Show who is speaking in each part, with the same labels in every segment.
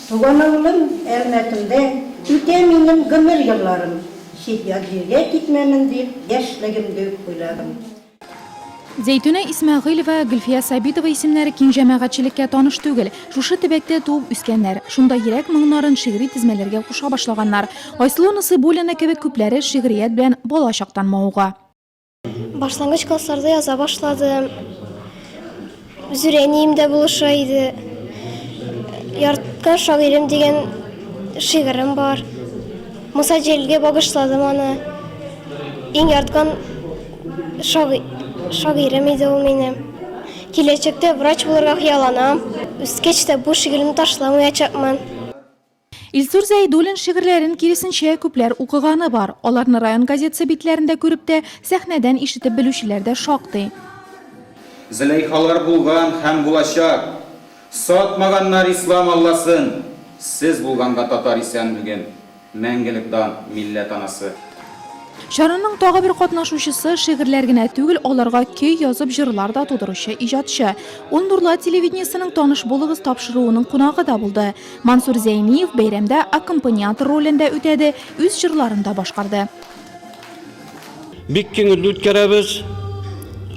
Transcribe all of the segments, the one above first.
Speaker 1: Суганыңмын, Әлмәтемдә Үтә минем гомер елларым, Чит-ят җиргә китмәмен дип, Яшьлегемде үк уйладым.
Speaker 2: Зәйтүнә Исмәгыйлева, Гөлфия Сабитова исемнәре киң җәмәгатьчелеккә таныш түгел. Шушы төбәктә туып үскәннәр. Шунда йөрәк моңнарын шигъри тезмәләргә куша башлаганнар. Айсылу Насыйбуллина кебек күпләре шигърият белән бала чактан мавыга. Башлангыч
Speaker 3: классларда яза башладым. Зүрәнием дә булыша иде. Ярткан шагыйрем дигән шигырем бар. Муса Җәлилгә багышладым аны. Иң ярткан шагыйрем иде ул минем. Киләчәктә врач булырга хыялланам. Үскәч тә бу шигыремне ташламаячакмын.
Speaker 2: Илсур Зәйдуллин шигырьләрен киресенчә күпләр укыганы бар. Аларны район газетасы битләрендә күреп тә, сәхнәдән ишетеп белүчеләр дә шактый.
Speaker 4: Зөләйхалар булган һәм булачак, Сатмаганнар ислам Алласын, Сез булганга татар исән бүген, Мәңгелек дан, милләт анасы! Чараның
Speaker 2: тагы бер катнашучысы, шигырьләр генә түгел, аларга көй язып җырлар да тудыручы иҗатчы. Ул Нурлат телевидениесенең Таныш булыгыз тапшыруының кунагы да булды. Мансур Зәйниев бәйрәмдә аккомпаниатор ролен дә үтәде, үз җырларын да башкарды.
Speaker 5: Бик киңелде үткәрәбез.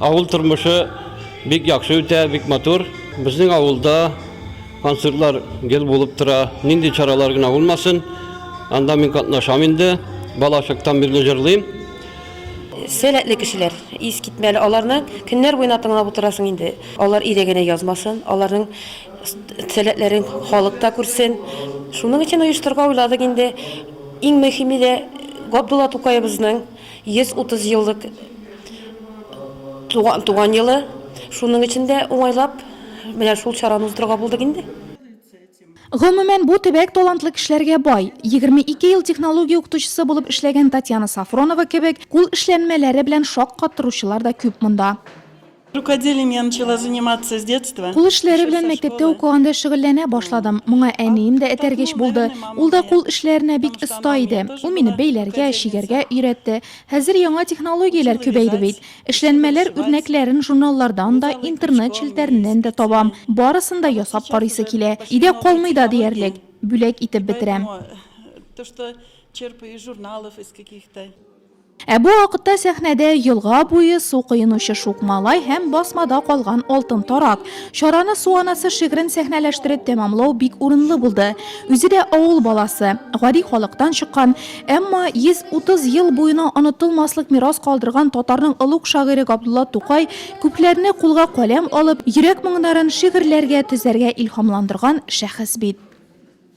Speaker 5: Авыл тормышы бик яхшы үтә, бик матур. Безнең авылда концертлар гел булып тора. Нинди чаралар гына булмасын, анда мин катнашам инде. Балачактан бирле җырлыйм.
Speaker 6: Сәләтле кешеләр, искитмәле аларны көннәр буена тыңлап утырасың инде. Алар иде генә язмасын, аларның Сәләтләрен халык та күрсен. Шуның өчен оештырырга уйладык инде. Иң мөһиме дә Габдулла Тукаебызның 130 еллык туган елы. Шуның өчен дә уңайлап менә шул чараны уздырырга булдык инде.
Speaker 2: Гомумән, бу төбәк талантлы кешеләргә бай. Егерме ике ел технология укытучысы булып эшләгән Татьяна Софронова кебек кул эшләнмәләре белән шаккаттыручылар да күп монда. Рукоделием
Speaker 7: я начала заниматься с детства. Кул эшләре белән мәктәптә
Speaker 2: укыганда шөгыльләнә башладым. Моңа әнием дә этәргеч булды. Ул да кул эшләренә бик оста иде. Ул мине бәйләргә, чигәргә өйрәтте. Хәзер яңа технологияләр күбәйде бит. Эшләнмәләр үрнәкләрен журналлардан да, интернет челтәреннән дә табам. Барысын да ясап карыйсы килә. Өйдә калмый да диярлек. Бүләк итеп бетерәм.
Speaker 7: Ә бу
Speaker 2: вакытта сәхнәдә елга буе су коенучы шук малай һәм басмада калган алтын тарак. Чараны Су анасы шигырен сәхнәләштереп тәмамлау бик урынлы булды. Үзе дә авыл баласы, гади халыктан чыккан, әмма 130 ел буена онытылмаслык мирас калдырган татарның олуг шагыйре Габдулла Тукай күпләрне кулга каләм алып, йөрәк моңнарын шигырьләргә төзәргә илһамландырган шәхес бит.